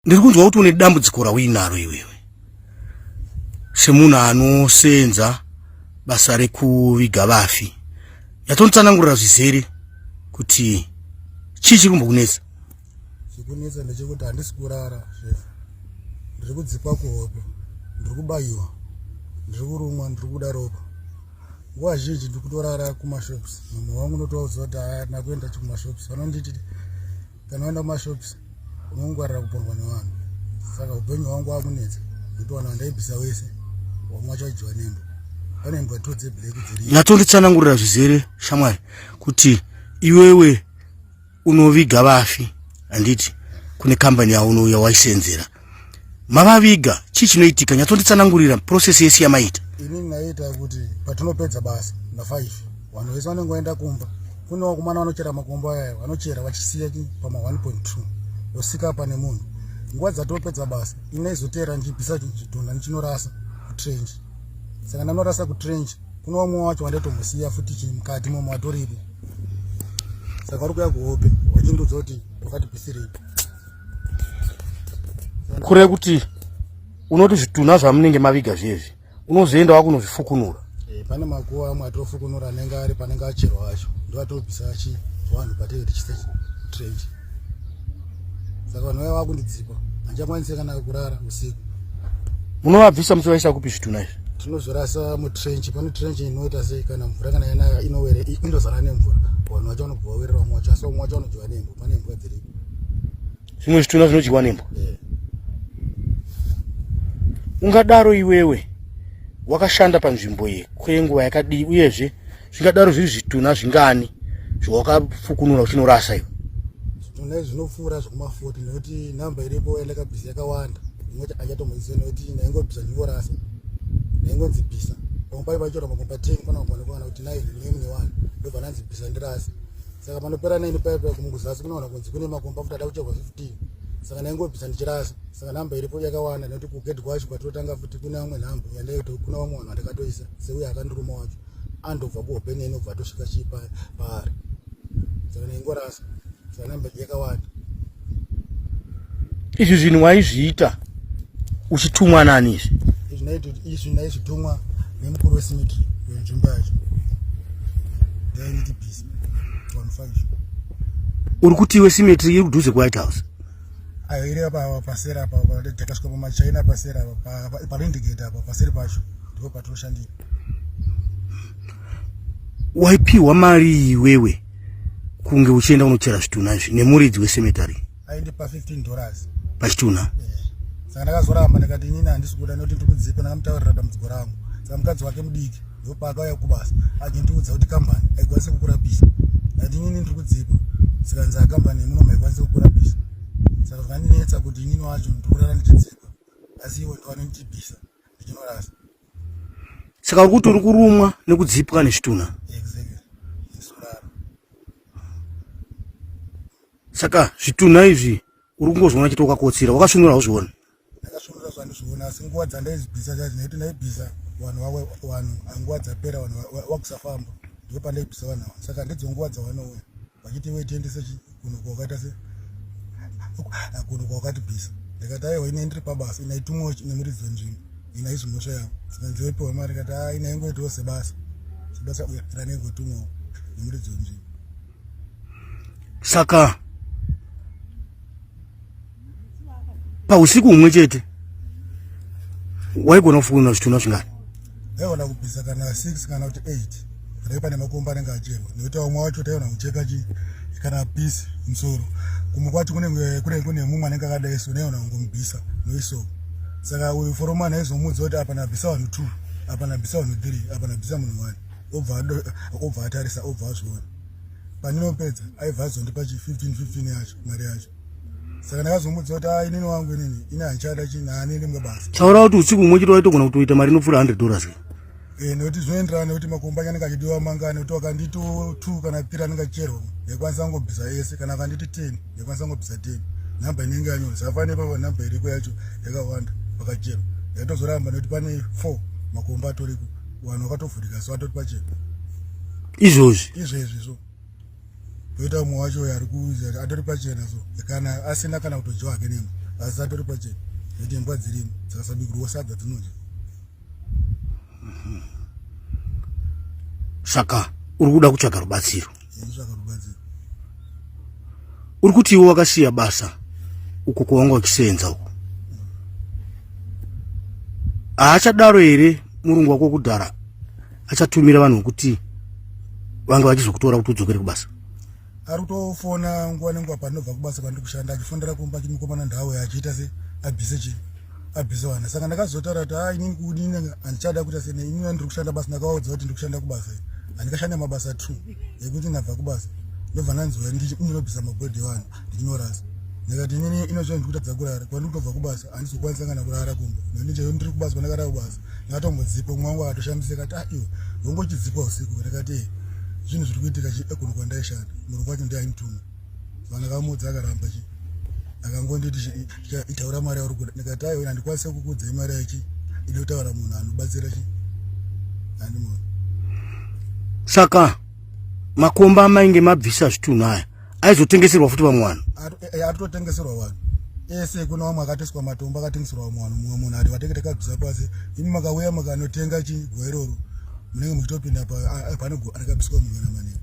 ndiri kunzwa kuti une dambudziko rauinaro iwewe semunhu anoseenza basa rekuviga vafi yatonditsanangurira zvizere kuti chii chiri kumbokunetsa chikunetsa ndechekuti handisi kurara chef ndiri kudzipwa kuhope ndiri kubayiwa ndiri kurumwa ndiri kuda ropa nguva zhinji ndiri kutorara kumashops mumwe wangu unotovaudza kuti haana kuenda chikumashops vanonditi kana waenda kumashops unongwarira kupondwa nevanhu saka upenyu hwangu wakunetsa ndotowana vandaibvisa wese wamwe wachadyiwa nembo pane mbwa two dzeblack dziri nyatonditsanangurira zvizere shamwari kuti iwewe unoviga vafi handiti kune kambani yaunouya waisenzera mavaviga chii chinoitika nyatsonditsanangurira process yese yamaita ini ndaiita kuti patinopedza basa nafive vanhu vese vanenge vaenda kumba kune vakomana vanochera makombo aya vanochera vachisiya pama 1.2 vosika pane munhu nguva dzatopedza basa ini naizoteera ndichibvisa chidhonda ndichinorasa kutrenji saka ndanorasa kutrenji Kuno wamwe wacho wandatomusiya futi chii mukati momwe watoripo. Saka vari kuya kuhope wachindiudza kuti wakati pisirei. Kure kuti unoti zvitunha zvamunenge maviga zviyezvi unozoenda wakunozvifukunura. Eh, pane makuva amwe atofukunura anenge ari panenge acherwa acho ndoatobvisa achi vanhu patenge tichise trenji. saka vanhu vaya vakundidzipa handichakwanise kana kurara usiku munovabvisa muchivaisa kupi zvitunha izvi tinozvirasa mutrench pane trench inoita sei kana mvura kana yanaya inowere indozara nemvura vanhu vacho vanobva vawerera vamwe wacho asi vamwe wacho vanodyiwa nembwa pane mbwa dziripo zvimwe zvitunha zvinodyiwa nembwa eh. ungadaro iwewe wakashanda panzvimbo iyi kwenguva yakadii uyezve zvingadaro zviri zvitunha zvingani zvawakafukunura uchinorasa iwe zvitunha izvi zvinopfuura zvekumafoti nekuti nhamba iripo elekabhisi yakawanda inoti achatomuziva nekuti ndaingobvisa ndingorasa ndaingonzi bvisa pamwe pai vachora makomba ten pana kuonekana kuti nai nemune wani ndobva nanzi bvisa ndirasi saka panopera naini paipa kumuguzasi kunoona kunzi kune makomba futi ada kucherwa fifteen saka ndaingobvisa ndichirasa saka nhamba iripo yakawanda nekuti kugedhi kwacho kwatinotanga futi kune vamwe nhamba yandaito kuna vamwe vanhu vandakatoisa seuye akandiruma wacho andobva kuhope neni obva atosvika chii paari saka naingorasa saka namba yakawanda izvi zvinhu waizviita uchitumwa nani izvi izvi naizvitumwa nemukuru wesimitri wenzvimbo yacho ndainitibhisi vanufaishi uri kuti iwe simetri iri kudhuze kuwhite house ayo iri apa pasera apa takasvika pamachina pasera apa parindigate apa paseri pacho ndipo patinoshandira waipiwa mari iwewe kunge uchienda unochera zvitunha izvi nemuridzi wesemetary aindipa 15 dollars pachitunha eh, saka ndakazoramba ndikati inini handisi kuda nekuti ndiri kudzipa ndakamutaurira dambudziko rangu saka mukadzi wake mudiki ndopaakauya kubasa achindiudza kuti kambani haikwanisi kukurapisa ndati inini ndiri kudzipa saka nzaa kambani yemuno maikwanisi kukurapisa saka zvandinetsa kuti inini wacho ndikurara ndichidzipa asi iwe ndiwanonditibisa ndichinorasa saka uri kuti uri kurumwa nekudzipwa nezvitunha saka zvitunha izvi uri kungozviona chete wakakotsira wakasvinura hauzvioni ndakasvinura zvandizviona asi nguva dzandaizibhisa chacho naiti ndaibhisa vanhu vawe vanhu nguva dzapera vanhu wakusafamba ndipo pandaibhisa vanhu ava saka ndidzo nguva dzawanouya vachiti iwe tiendese kuno kwakaita se kuno kwakati bhisa ndikati aiwa ine ndiri pabasa ina itumwa nemuridzi wenzvimbo ina izvi mhosva yavo zikanzi wepiwa mari kati a ina ingoitiwo sebasa sebasa ranenge utumwawo nemuridzi wenzvimbo saka pausiku umwe chete waigona kufunga zvitunha zvingani aiona kubvisa kana 6 kana kuti 8 dai pane makomba anenge achema nekuti vamwe wacho taiona kucheka chi kana pisi musoro kumwe kwacho kunenge kune kune mumwe anenge akadai so naiona kungomubvisa noiso saka uyu foroma naizomudza kuti apa nabvisa vanhu two apa nabvisa vanhu three apa nabvisa munhu one obva obva atarisa obva azviona pandinopedza aibva azondipa chi 15 15 yacho mari yacho saka ndakazomuudza kuti a inini wangu inini ini handichada chinhu haanende mumwe basa taura kuti usiku umwe chete waitogona kutoita mari inopfuura 100 dollars ka Eh, nekuti zvinoenderana nekuti makomba ake anenge achidiwa mangani kuti akanditi two kana three anenge achicherwa nekwanisa kungobvisa ese kana akanditi ten nekwanisa kungobvisa ten nhamba inenge yanyora zafane pava nhamba iriko yacho yakawanda pakacherwa yaitozoramba nekuti pane four makomba atoriko vanhu vakatovhurika so atoti pachena izvozvi izvezvi izvo toita umwe wacho uyo ari kuuza atori pachena so kana asina kana kutodyiwa hake nembwa asi atori pachena nekuti imbwa dzirimo dzikasabikurwa sadza dzinodya mhm. saka uri kuda kutsvaga rubatsiro kutsvaga rubatsiro uri kuti iwe wakasiya basa uko kwawanga uchisenza uko haachadaro here murungu wako kudhara achatumira vanhu vokuti vanga vachizokutora kuti udzokere kubasa ari kutofona nguva nenguva pandinobva kubasa kwandiri kushanda achifonera kumba chimukomana ndhawo yachiita se abhise chi abhise vana saka ndakazotaura kuti ha inini kudini handichada kuita sene inini andiri kushanda basa ndakaudza kuti ndiri kushanda kubasa handikashanda mabasa two yekuti ndabva kubasa ndobva ndanzwa ndinobvisa mabhodhi evanhu ignorance ndikati inini inozvino ndikutadza kurara kwandikutobva kubasa handizokwanisa kana kurara kumba nani chaiyo ndiri kubasa kwandakara kubasa ndakatombodhikwa umwe wangu akatoshamisika kati a ah, iwe hongo chidzikwa usiku ndikati ee zvinhu zviri kuitika chi ekuno kwandaishanda murungu wacho ndiainituma vanakamudzi akaramba chi akangonditi itaura mari yauri kuda ndikati aiwe handikwanise kukudzai mari yachi inotaura munhu anobatsira chi andimona saka makomba amainge mabvisa zvitunhu aya aizotengeserwa futi vamwe vanhu aritotengeserwa eh, eh, vanhu ese kuna vamwe akateswa matombo akatengeserwa vamwe vanhu mumwe munhu ati vatenge takabvisa pasi imi makauya makanotenga chigwa iroro munenge muchitopinda pane gwa rakabviswa mungana manene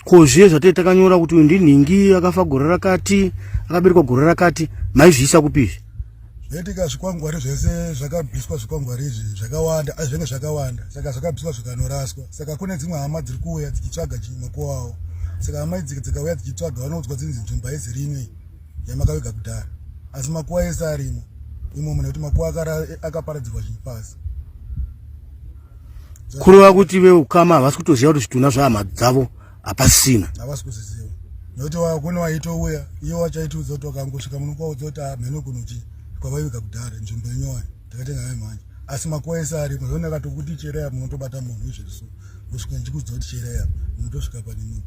ko zviye zvatee takanyora kuti uyu ndinhingi akafa gore rakati akaberekwa gore rakati maizviisa kupi izvi Zvoitika zvikwangwari zvese zvakabviswa zvikwangwari izvi zvakawanda azvenge zvakawanda saka zvakabviswa zvikanoraswa saka kune dzimwe hama dziri kuuya dzichitsvaga makuwo awo saka hama idzi dzikauya dzichitsvaga vanoudzwa dzinzi nzvimbo haizi rimwe yamakaviga kudhara asi makuwa ese arimo imomo nekuti makuwa akaparadzirwa zvinhu pasi kureva kuti veukama havasi kutoziva kuti zvitunha zvehama dzavo hapasina havasi kuziziva nokuti kune waitouya iye wachaitiudza kuti wakangosvika muno kwaudza kuti ah, mheno kunochi kwavaiviga kudhara nzvimbo yenyowani takatenga naye mhanya asi makuva ese ariko zvona katokuti chereya munotobata munhu izviri so kusvika ndichikuudza kuti chereya munotosvika pane munhu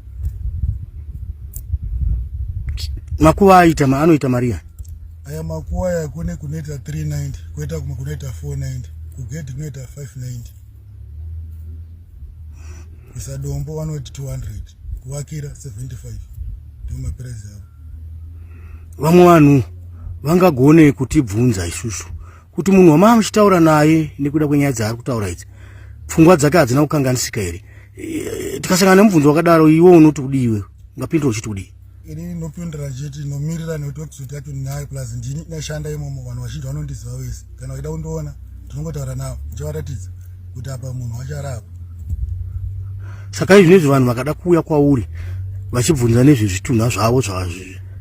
makuva aita anoita maria aya makuva aya kune kunoita 390 koita kumwe kunoita 490 kugedhi kunoita 590 isa dombo vanoti 200 kuvakira 75 ndiwo mapirazi avo vamwe vanhu vangagone kutibvunza isusu kuti munhu wamaa muchitaura naye nekuda kwenyaya dzaari kutaura idzi pfungwa dzake hadzina kukanganisika here eh, tikasangana nemubvunzo wakadaro iwe unoti kudiiwewe ungapindura uchiti kudii ini ndinopindura chete ndinomirira nekuti website yacho ndinayo plus ndini ndashanda imomo vanhu vazhinji vanondiziva wese kana vaida kundiona ndinongotaura navo ndichavaratidza kuti apa munhu wacharapa saka izvi nezvi vanhu vakada kuuya kwauri vachibvunza nezvezvitunha zvavo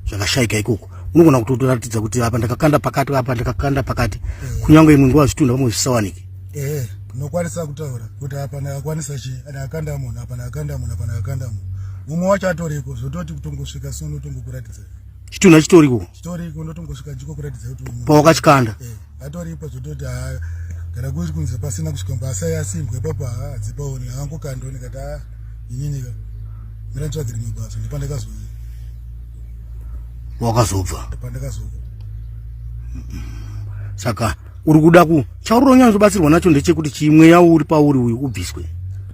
zvakashaika ikoko unogona kutotoratidza kuti apa ndakakanda pakati apa ndakakanda pakati eh. kunyange imwe nguva zvitunha vamwe zvisawanike ehe ndinokwanisa kutaura kuti apa ndakakwanisa chii ndakakanda munhu apa ndakakanda munhu apa ndakakanda munhu mumwe wacho atoriko zvototi kutongosvika so ndotongokuratidza chitunhu achitoriko chitoriko ndotongosvika ndikokuratidza kuti pawakachikanda eh, atoripo zvototi haa kana kuri kunze pasina kusvika mbasai asimbwa ipapo haa adzipaoni angokandoni kati haa ininika miranditsvage rimwe basa ndipandakazoia wakazobva pandakazobva saka uri kuda ku chauri unyanya kubatsirwa nacho ndechekuti chimweya uri pauri uyu ubviswe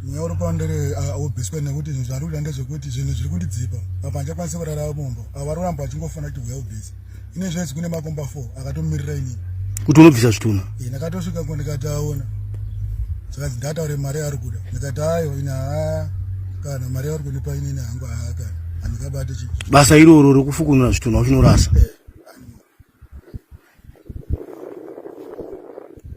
mweya uri pauri ndere ubviswe nekuti zvari kuda ndezvekuti zvinhu zviri kundidzipa apa ndichakwanisa kurara mumba avari kuramba vachingofana kuti mweya ubvise ine zvese kune makomba four akatomirira inini kuti unobvisa zvitunha ndakatosvika ko ndikati aona zvikanzi ndataure mari yaari kuda ndikati ayo ina haa kana mari yauri kundipa inini hangu haa kana handikabati chi basa iroro rekufukunura zvitunha uchinorasa eh.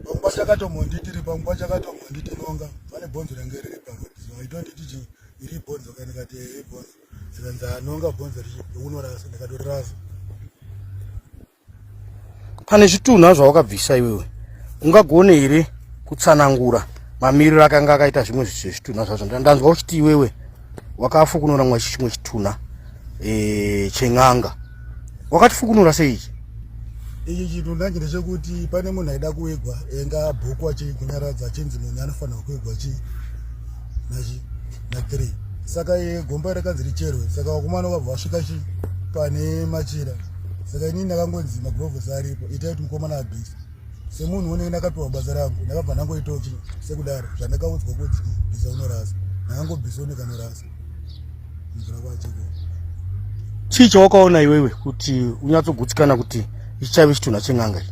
pangwa chakatombonditi ri pangwa chakatombonditi nonga pane bhonzo range riri pangwa so i don't iti chi iri bhonzo ka ndikati eh, iri bhonzo zikanzi anonga ah, bhonzo richi unorasa ndikatorasa pane zvitunha zvawakabvisa iwewe ungagone here kutsanangura mamiriro akanga akaita zvimwe zvitunha zvacho ndanzwa uchiti iwewe wakafukunura mwachi chimwe chitunha e, chen'anga wakatifukunura sei ichi ichi chitunha chine chekuti pane munhu aida kuigwa enga bhuku achii kunyaradza achinzi munhu anofanirwa kuigwa chii nachi nathree saka iye gomba rakanzi richerwe saka vakomana vakabva vasvika chii pane machira saka inini ndakangonzi magrovhesi aripo itai kuti mukomana abhisa semunhu unenge ndakapiwa basa rangu ndakabva ndangoitawo chi sekudaro zvandakaudzwa kuti bhisa unorasa ndakangobhisa uneka norasa mvura kwachiko chii chawakaona iwewe kuti unyatsogutsikana kuti ichaive chitunha chen'anga i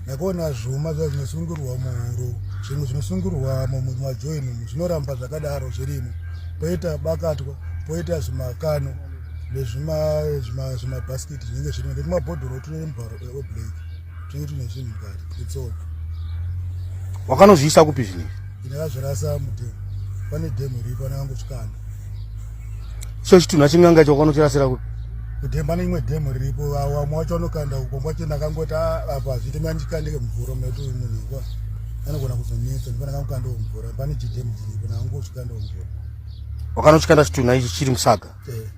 ndakaona zvuma zva zvinosungirwa muhuro zvimwe zvinosungirwa mumajoini zvinoramba zvakadaro zvirimo poita bakatwa poita zvimakano nezvimabhaskiti zvinenge zvirimo netumabhodhoro tune mubharo weblack wakanozviisa kupi zvinei ndakazvirasa mudhemu pane dhemu iripo anangangosvikana so chitunha chinganga icho wakanochirasira kupi kudhemu pane imwe dhemu riripo wamwe wacho anokanda uko mwacho ndakangoti ah, apa hazviti mandikandike mvura mati munhu ikwa anogona kuzonetsa ndipo ndakangokandao mvura pane chidhemu chiripo ndakangosvikandao mvura wakanochikanda chitunha ichi chiri musaga eh.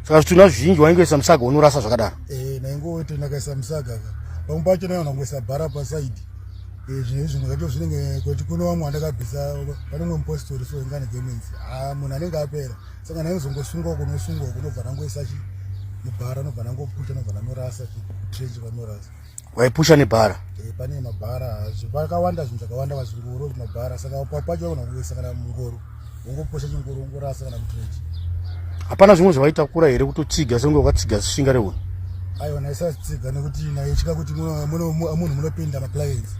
saka zvitunha zvizhinji waingoisa musaga unorasa zvakadaro eh, naingoti ndakaisa musaga pamwe pacho naiona kungoisa bhara pasaidi eh, zvinhu izvi ndikato zvinenge kuti kuno vamwe andakabvisa panomwe mupostori so ingane gemenzi a ah, munhu anenge apera saka naizongosungwa kunosungwa kunobva nangoisa chi mubhara anobva nangoputa anobva nanorasa trenji vanorasa waipusha nebhara eh, pane mabhara vakawanda zvinhu zvakawanda vazvingoro mabhara saka papacho vagona kuisa kana mungoro wongopusha chingoro wongorasa kana mutrenji hapana zvimwe zvavaitakura here kutotsiga senge ukatsiga shinga reunhu aiwa naisatsiga nekuti naitya kuti munhu munopinda maclients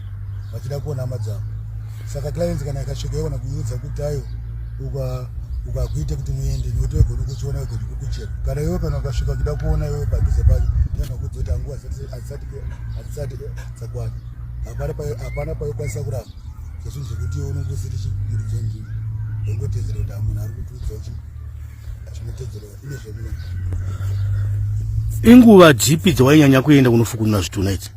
vachida kuona hama dzavo saka clients kana ikasvika yogona kuiudza kuti ayo uka ukakuita kuti muende nekuti wegoni kuchiona wegoni kukuchera kana iwe kana ukasvika kuda kuona iwe padhuze pacho nokudzoita nguva hatisati dzakwana hapana paikwanisa kuramba zvezvinhu zvekuti iwe unenge usiri chimuridzo nzvimbo wongotedzera kuti amunhu ari kutiudza kuti zvinotedzera ine zvemune inguva dzipi dzawainyanya kuenda kunofukunura zvitunha idzi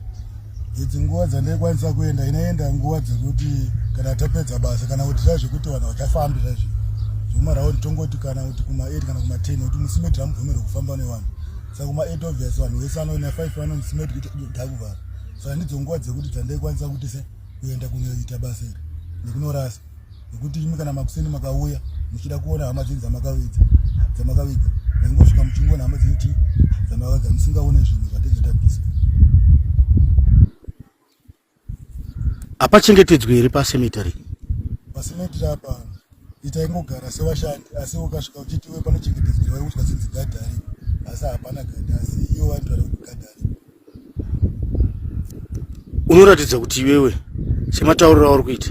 idzi nguva dzaindaikwanisa kuenda inaenda nguva dzekuti kana tapedza basa kana kuti zva zvekuti vanhu vachafambi zvaizvi zvomaraundi tongoti kana kuti kuma8 kana kuma10 kuti musimedhira mubvumirwe kufamba nevanhu saka kuma 8 obvious vanhu vese anoina 5 vanonzi medi kuti ndakuvhara saka ndidzo nguva dzekuti dzandaikwanisa kuti se kuenda kunoita basa iri nekunorasa nekuti imi kana makuseni makauya muchida kuona hama dzenyu dzamakavidza dzamakavidza ndaingosvika muchingoona hama dzenyu ti dzamakavidza musingaone zvinhu zvatenge tabvisa apa chengetedzwe here pa cemetery pa cemetery apa ita ingogara se vashandi asi ukasvika uchiti we pane chengetedzwe vari kutya sinzi gadari asi hapana gadari asi iyo vantu vari kuti gadari unoratidza kuti iwewe sematauriro auri kuita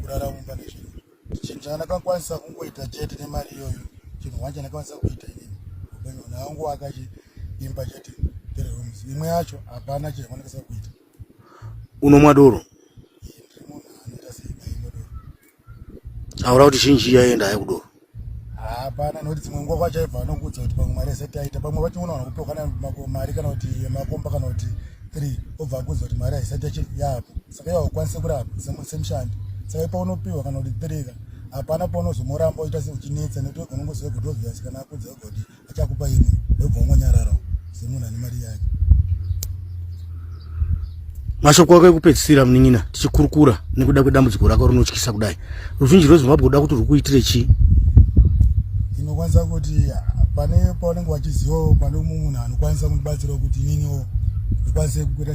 kurara mumba nezvinhu chinhu chandakakwanisa kungoita chete nemari iyoyo chinhu hwani chandakakwanisa kuita inini upenyu hwana wangu wakachi imba chete three rooms imwe yacho hapana chinhu chandakakwanisa kuita unomwa doro ndiri munhu anoita seimwe doro aura kuti zhinji yaenda hayi kudoro hapana nokuti dzimwe nguva kwachaibva vanokuudza kuti pamwe mari yese taita pamwe vationa vanokupiwa kana mari kana kuti yemakomba kana kuti three obva akuudza kuti mari haisati yapo saka iva ukwanise kurapa semushandi saka ipaunopiwa kana kuti three ka hapana paunozomuramba uita seuchinetsa nekuti unongoziva kuti obvious kana akuudza kuti Achakupa ini ndobva wangonyarara semunhu ane mari yake. Mashoko ako ekupedzisira munin'ina tichikurukura nekuda kwedambudziko rako rinotyisa kudai. Ruzhinji rweZimbabwe kuda kuti rwukuitire chii? Inokwanisa kuti pane paunenge wachizivawo pane umwe munhu anokwanisa kundibatsirawo kuti ininiwo ndikwanise kukuita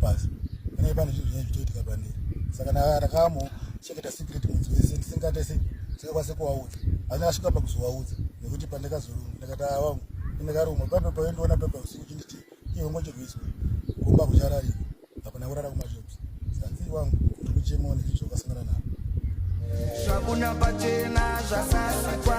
pasi pane pane zvinhu zvinenge zvichiitika pandiri saka ndakamo cheketa secret mudzi wese ndisingate sei ndisingakwanise kuvaudza asi ndakasvika pakuzovaudza nekuti pandakazorumwa ndakati avangu ndindakarumwa pape paindiona pepa usiku chinditi iwe ngochirwiswa kumba kuchararika hapana kurara kumashops sanzi wangu ndiri kuchemawo nezvi zvakasangana navo zvakuna pachena zvasasikwa